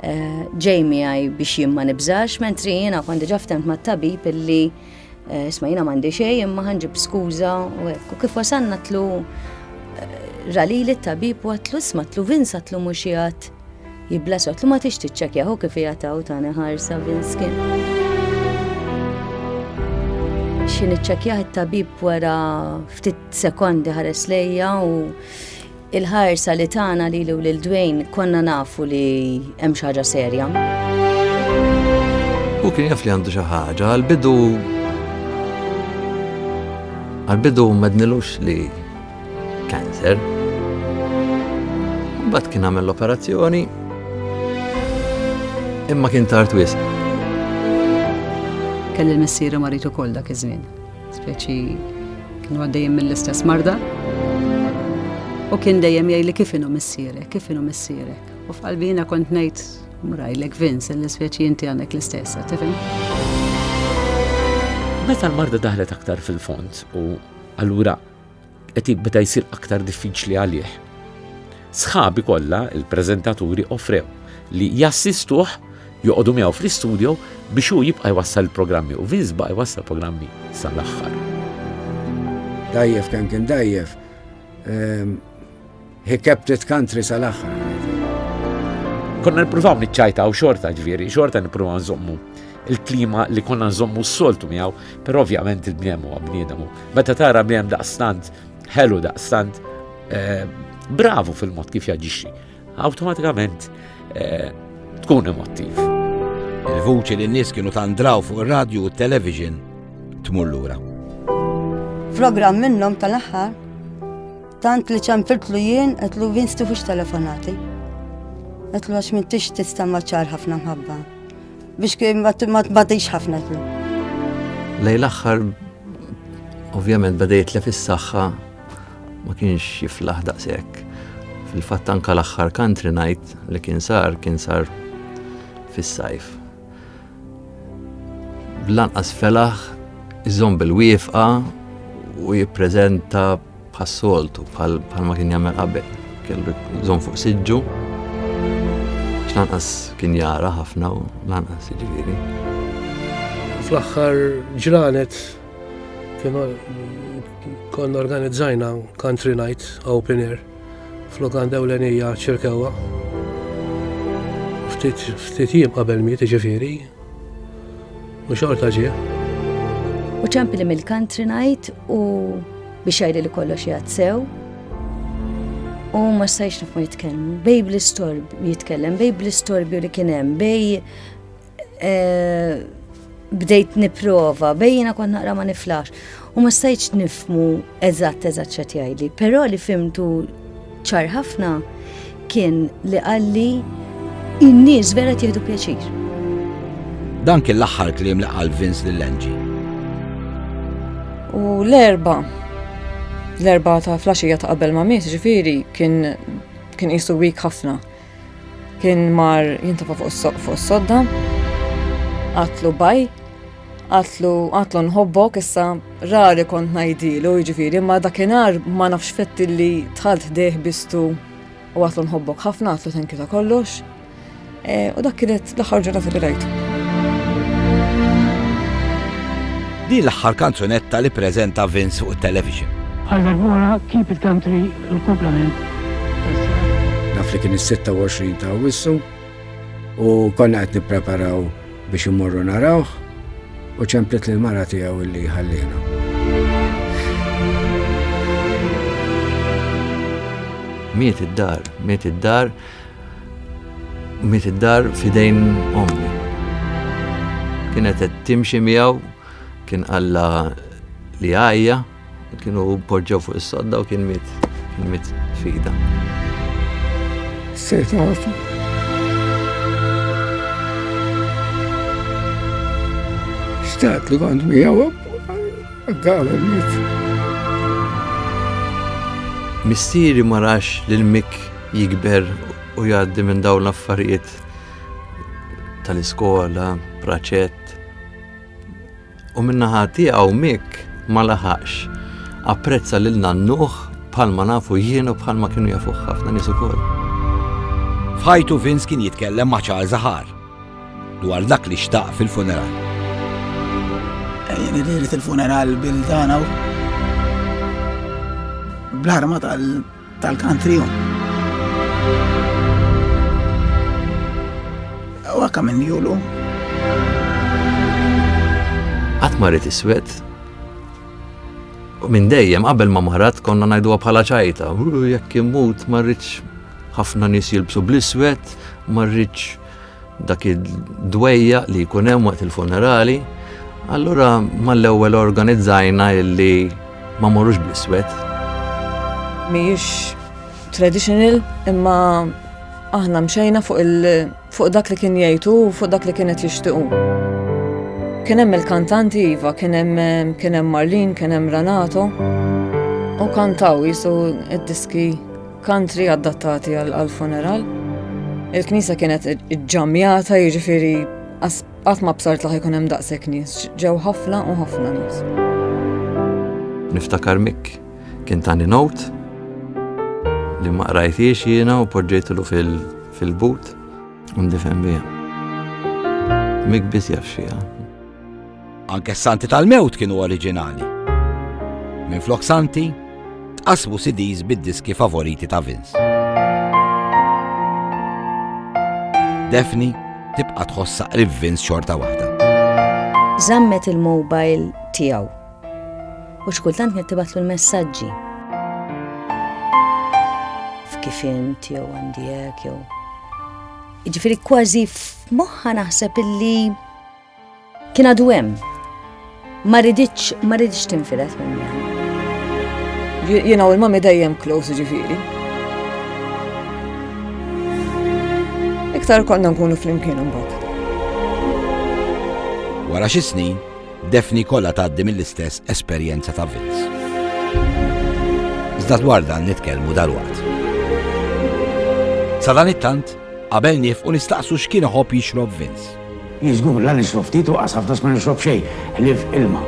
Ġej miegħi biex jien ma nibżax, mentri jiena kont diġà ftemt mat-tabib illi eh, isma' jiena m'għandi xejn imma ħanġib skuża u hekk. U kif wasalna tlu eh, ralili t-tabib u għatlu isma' tlu Vince għatlu mhux jgħat jiblas għatlu ma tix tiċċekja hu kif jgħataw tani ħarsa Vince kien. Xi niċċekjah it-tabib wara ftit sekondi ħares lejja u Il-ħarsa li tana li l lil Dwayne konna nafu li hemm xi ħaġa serja. U kien jaf li għandu xi ħaġa, għal-bidu għal-bidu madnilux li cancer. Bat kien għamel l-operazzjoni imma kien tard wisq. Kelli l-missiera maritu kol dak iż-żmien. Speċi kienu għaddejjem mill-istess marda. U kien dejjem jgħidli kif inhu missierek, kif inhu missierek. U f'qalbina kont ngħid mrajlek Vince li speċi inti għandek l-istess, tifhem? Meta l-marda daħlet aktar fil-fond u allura qed jibda jsir aktar diffiċli għalih. Sħabi kollha, il-preżentaturi offrew li jassistuh joqogħdu miegħu fl-istudio biex hu jibqa' jwassal il-programmi u Vince baqa' jwassal programmi sal-aħħar. Dajjef kemm kien dajjef, ehm, He kept it country sal-aħħar. Konna nippruvaw niċċajtaw xorta ġviri, xorta nippruvaw nżommu il-klima li konna nżommu s-soltu miegħu, però ovvjament il-bniedem huwa bniedem. Meta tara bniedem daqstant, ħelu daqstant, eh, bravu fil-mod kif jaġixxi, awtomatikament eh, tkun emotiv. Il-vuċi li n-nies kienu tandraw fuq ir-radju u t-television tmur lura. Program minnhom tal-aħħar Tant li ċempiltlu jien, għetlu vinstu fux telefonati. Għetlu għax minn tix tista maċar ħafna mħabba. Biex kien ma tbatix ħafna għetlu. Lej l-axħar, ovvjament badejt li fis-saxħa ma kienx jiflaħ daqsek. Fil-fatt anka l-axħar country night li kien sar, kien sar fis-sajf. Bl-anqas felaħ iżomm bil-wifqa u jippreżenta bħas-soltu bħal ma kien jagħmel qabel. Kellu jżomm fuq siġġu. X'lanqas kien jara ħafna u lanqas jiġifieri. Fl-aħħar ġranet kien konna organizzajna country night open air F'lukanda ewlenija ċirkewwa. Ftit jiem qabel miet ġifieri. U xorta ġie. U ċempi li mill-country night u biex jgħid li kollox jgħad sew. U ma stajx nifmu jitkellmu. Bej bl-istorb jitkellem, bej bl-istorbju li kien hemm, bej Eh, bdejt niprova, bejjina kont naqra ma niflax. U ma stajċ nifmu eżatt eżatt xet jgħidli. Però li fimtu ċar ħafna kien li għalli in-nies vera tieħdu pjaċir. Dan kien l-aħħar kliem li qal Vince lil Angie. U l-erba, l-erba ta' flasġija ta' qabel ma' mis, ġifiri, kien kien jisu wik ħafna. Kien mar jintafa fuq is-soq fuq is-sodda. Qatlu baj, qatlu qatlu nħobbok issa rari kont ngħidilu jiġifieri ma dakinhar ma nafx fett li tħalt ħdejh bistu u qatlu nħobbok ħafna qatlu tenki ta' kollox. E, u dak kienet l-aħħar ġurnata li rajtu. Din l-aħħar kanzunetta li preżenta Vince fuq it-television. Għal darbora Keep It Country u l-komplement Naf li kien is-26 ta' Awwissu u konna qed nippreparaw biex imorru narawh u ċemplet lil mara tiegħu illi ħallina. Miet id-dar, miet id-dar, miet id-dar fidejn ommi. Kienet qed timxi miegħu kien alla li għajja Kienu poġġew fuq is-sodda u kien miet, kien miet fida. Se tafu. Xtaqt li kont miegħu għaddawa miet. Mistieri ma rax lil Mik jikber u jgħaddi minn dawn l-affarijiet tal-iskola, praċett, U min-naħa tiegħu Mick ma laħaqx. Apprezza lil nannuh bħalma nafu jien u bħalma kienu jafuh ħafna nies ukoll. F'ħajtu Vince kien jitkellem ma' Charles Aħar dwar dak li xtaq fil-funeral. Jien irrid il-funeral bil-dana bl-arma tal- tal-country home. Huwa kemm minn julu. Qatt ma rrid iswed. U minn dejjem qabel ma marat konna ngħiduha bħala ċajta, jekk immut ma rridx ħafna nies jilbsu bl-iswed, ma rridx Dak id-dwejja li jkun hemm waqt il-funerali, allura mal-ewwel organizzajna illi ma morrux bl-iswed. Mhijiex traditional imma aħna mxejna fuq dak li kien jgħidu u fuq dak li kienet jixtiqu. Kien hemm il-kantanti iva, kien hemm Marlin, kien hemm Renato u kantaw jisu id-diski Kantri adattati għal funeral. Il-knisja kienet ġamjata jiġifieri qatt ma bsart laħ ikun hemm daqshekk nies, ġew ħafna u ħafna nies. Niftakar Mik kien tani not li ma qrajtiex jiena u poġġejtlu fil-but u ndifhem biha. Mik biss jaf xieha. Anke s-santi tal-mewt kienu oriġinali. Minflok santi, tqassmu CDs bid-diski favoriti ta' Vince. Defni tibqa' tħossaq qrib Vince xorta waħda. Zammet il-mobile tiegħu. U xkultant kienet tibatlu l-messaġġi. F'kif int jew għandijek jew. Ġifieri kważi f'moħħa naħseb illi Kien għadu hemm. Ma riditx, ma riditx tinfilet minn jgħan. Jena u l-mami dejjem close ġifiri. Iktar konna nkunu fl-imkien mbagħad. Wara xi snin, Defni kollha tgħaddi mill-istess esperjenza ta' Vince. Iżda dwar dan nitkellmu dal-waqt. Sa dan it-tant, qabel nif u nistaqsu x'kien iħobb jixrob Vince. Hi żgur, la nixrob ftit u qas ħafna sma nixrob xejn ħlief ilma.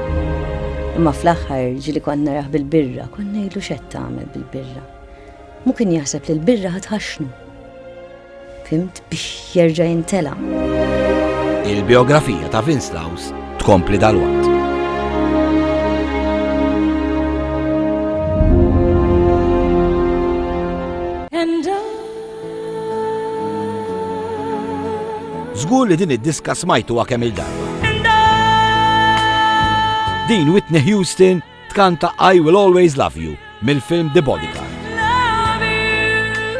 Imma fl-aħħar ġieli kont narah bil-birra, kont ngħidlu x'qed tagħmel bil-birra. Mhu kien jaħseb li l-birra ħa tħaxxnu. Fimt biex jerġa' jintela'. Il-biografija ta' Vince Laws tkompli dalwaqt. Żgur li din id-diska smajtuha kemm il-darba. Din Whitney Houston tkanta I Will Always Love You mill-film The Bodyguard.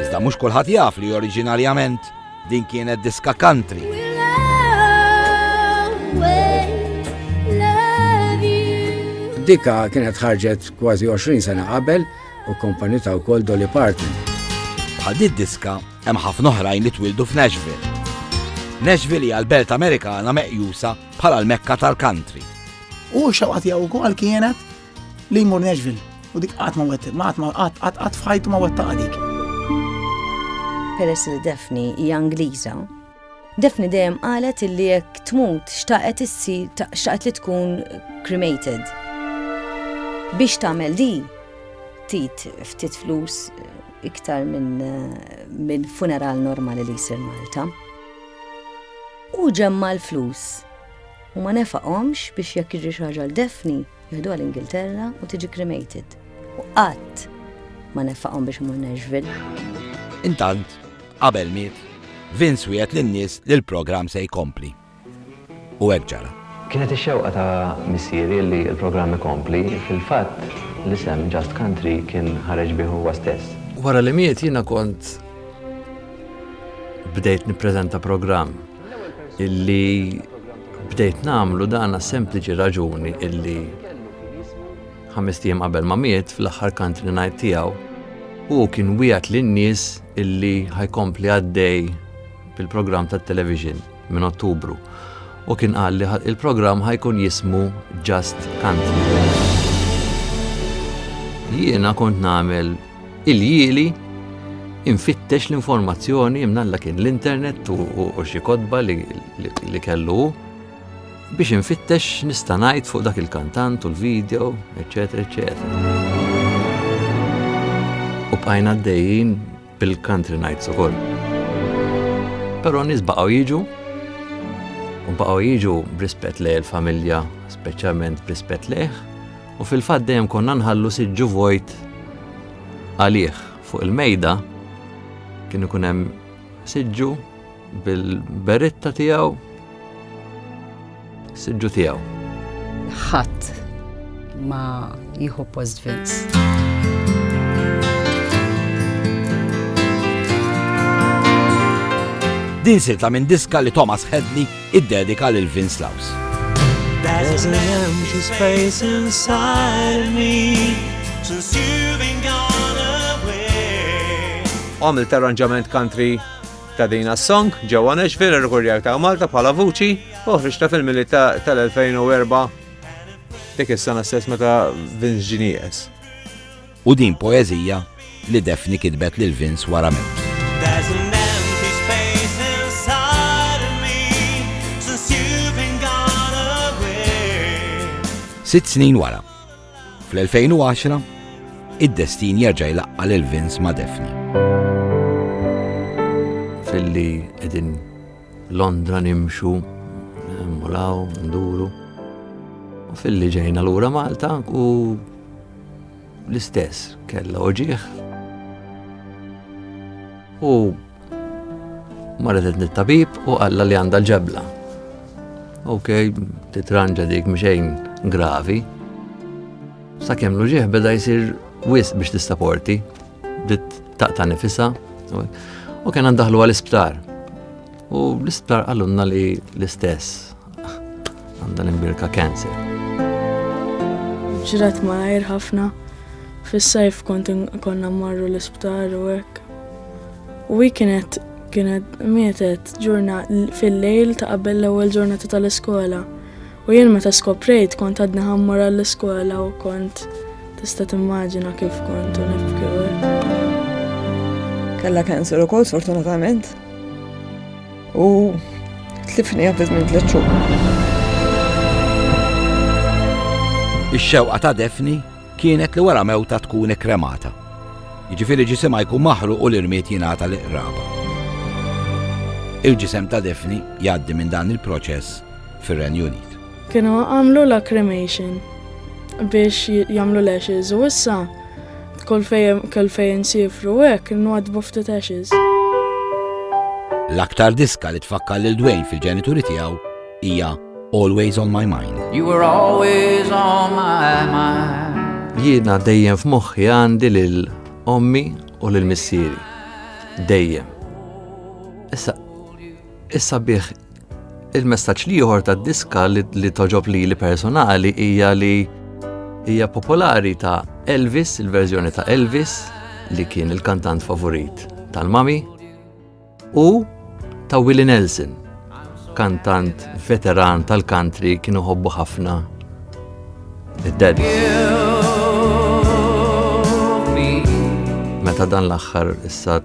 Iżda mhux kulħadd jaf li oriġinarjament din kienet diska country. Dika kienet ħarġet kważi 20 sena qabel u kompani ta' wkoll Dolly Parton. Bħal di diska hemm ħafna oħrajn li twildu f'Nashville. Nashville hija l-belt Amerikana meqjusa bħala l-mekka tal-country. U xewqat jew ukoll kienet li jmur Nashville u dik qatt ma wettet, ma qatt ma qatt qatt f'ħajtu ma wettaq dik. Peress li Daphne hija Ingliża, Daphne dejjem qalet illi jekk tmut xtaqet issi xtaqet li tkun cremated. Biex tagħmel di, tit ftit flus iktar minn min funeral normali li jsir Malta. U ġemma l-flus u ma nefaqhomx biex jekk jiġri xi ħaġa l-Daphne Jieħduha l-Ingilterra u tiġi cremated. U qatt ma nefaqhom biex imur Nashville. Intant, qabel miet, Vince wiegħed lin-nies li l-programm se jkompli. U hekk ġara. Kienet ix-xewqa ta' missieri li l-programm ikompli, fil-fatt, l-isem Just Country kien ħareġ bih huwa stess. Wara li miet jiena kont bdejt nippreżenta programm illi Bdejt nagħmlu dan sempliċi raġuni illi ħames tiem qabel ma miet fl-aħħar country night tiegħu u kien wieħed lin-nies illi ħajkompli għaddej bil-programm tat-television minn Ottubru u kien qal li il-programm ħajkun jismu Just Country. Jiena kont nagħmel Il-jieli infittex l-informazzjoni imnalla kien l-internet u xi kodba li kellu biex infittex nista' ngħid fuq dak il-kantant u l-video, eċetera, eċetera. U bqajna għaddejjin bil-country nights ukoll. Però nies baqgħu jiġu u baqgħu jiġu b'rispett lejn il-familja, speċjalment b'rispett lejh, U fil-fatt dejjem konna nħallu siġġu vojt għalih fuq il-mejda kien ikun hemm siġġu bil-beritta tiegħu siġġu tiegħu. Ħadd ma jieħu post Vince. Din sirtla minn diska li Thomas Hedley Iddedika lil Vince Laws. There's an empty space inside of me since you've been gone away. Għamilt arranġament country ta' din song ġewwa Nashville irrikorjar ta' Malta bħala vuċi u ħriġta fil-mili tal-2004 dik is-sena stess meta Vince Genius. U din poeżija li Daphne kitbet lil Vince wara mewt. Sitt snin wara, fl-2010, id-destin jerġa' jlaqqa lil Vince ma' Daphne. Filli qegħdin Londra nimxu, mulaw, nduru. U filli ġejna lura Malta u l-istess kella oġieħ. U marret nit-tabib u għalla li għanda l-ġebla. Ok, titranġa dik mxejn gravi. Sa' kem l beda jisir wis biex tistaporti. Bdiet taqta' nifisa u kien għandaħlu għal-isptar. U l-isptar għallunna li l-istess għandha l-imbirka cancer. Ġrat ma għajr ħafna. Fis-sajf kont konna marru l-isptar u hekk. U hi kienet kienet mietet ġurna fil-lejl ta' qabel l-ewwel ġurnata tal-iskola. U jien meta skoprejt kont għadni ħammur għall-iskola u kont tista' timmaġina kif kont u nibki Kella cancer ukoll sfortunatament. U tlifni għafiz minn tliet xhur. Ix-xewqa ta' Defni kienet li wara mewta tkun ikkremata. Jiġifieri ġisimha jkun maħruq u l-irmiet jingħata l-iqraba. Il-ġisem ta' Defni jgħaddi minn dan il-proċess fir-Renju Unit. Kienu għamlu la cremation biex jagħmlu l-ashes u issa kull fejn kull fejn sifru hekk nwadbu ftit ashes. L-aktar diska li tfakkar lil Dwayne fil-ġenituri tiegħu hija Always on my mind. You were always on my mind. Jiena dejjem f'moħħi għandi lil ommi u lil missieri. Dejjem. Issa issa bih Il-messaġġ l-ieħor tad-diska li toġob lili personali hija li hija popolari ta' Elvis, il-verżjoni ta' Elvis, li kien il-kantant favorit tal-mami, u ta' Willie Nelson, kantant veteran tal-country kien uħobbu ħafna id-daddy. Meta dan l-axħar issa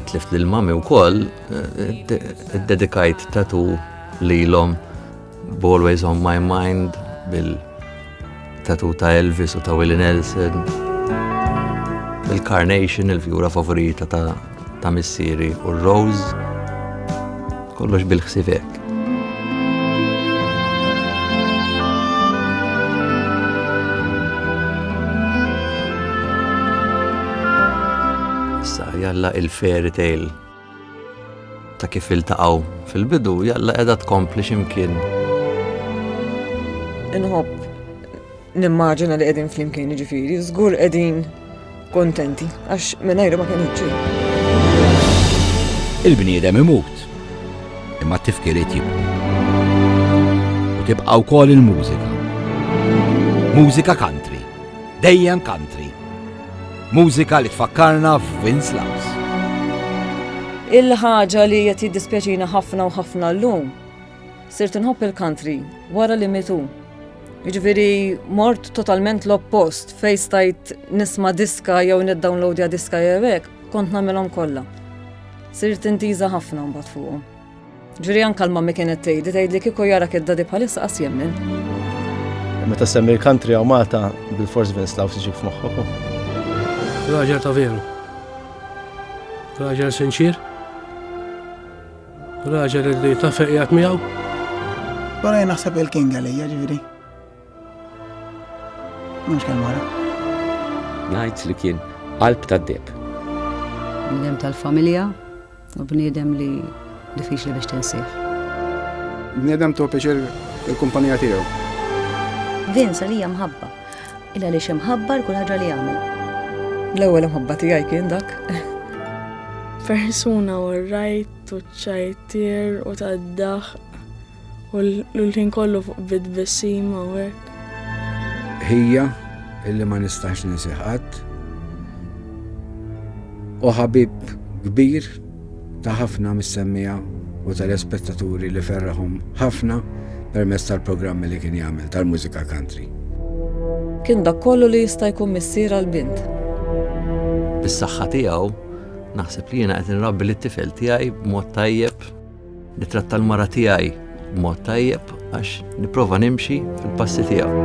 Tlift lil mami wkoll iddedikajt tatu lilhom Always on my mind bil tatu ta' Elvis u ta' Willie Nelson. Il-Carnation, il-fjura favorita ta' ta' missieri u r-Rose. Kollox bil-ħsibek. Sa jalla il-fairy tale ta' kif iltaqgħu fil-bidu jalla qiegħda tkompli x'imkien. Inħobb Nimmaġina li qegħdin flimkien jiġifieri, żgur qegħdin kontenti għax mingħajru ma kien ġej. Il-bniedem imut, imma t-tifkiriet jibqu. U tibqa' wkoll il-mużika. Mużika country, dejjem country. Mużika li tfakkarna f'Vince Laws. Il-ħaġa li qed jiddispjaċina ħafna u ħafna llum Sirt inħobb il-country wara li mitu. Jiġifieri mort totalment l-oppost fejn stajt nisma' diska jew niddownloadja diska jew hekk, kont nagħmilhom kollha. Sirt intiża ħafna mbagħad fuqhom. Ġifieri anke l-mammi kienet tgħidli tgħidli kieku jara kid-dadi bħalissa qas jemmen. Meta semmi l-country jew Malta bil-fors Vince Law siġib f'moħħok. Raġel ta' veru. Raġel sinċir. Raġel li ta' feqjat miegħu. Baraj naħseb il-king għalija ġifieri. Mhux kemm wara. Ngħid li kien qalb tad-deb. Bniedem tal-familja u bniedem li diffiċli biex tinsih. Bniedem tu piċir il-kumpanija tiegħu. Vince għalija mħabba. Il għaliex imħabbar kull ħaġa li jagħmel. L-ewwel imħabba tiegħi kien dak. Persuna u rajt u ċajtir u taddaħ u l-ħin kollu fuq bid bisima u hekk. Ħija illi ma nistax ninsiħat u ħabib kbir ta' ħafna mis-semmiegħa u telespettaturi li ferrahom ħafna permezz tal-programmi li kien jagħmel tal-mużika country. Kien dak kollu li jista' jkun missier għal bint. Bis-saħħa tiegħu naħseb li jiena qed inrabbi lit-tifel tiegħi b'mod tajjeb. Nitratta l-mara tiegħi b'mod tajjeb għax nipprova nimxi fil-passi tiegħu.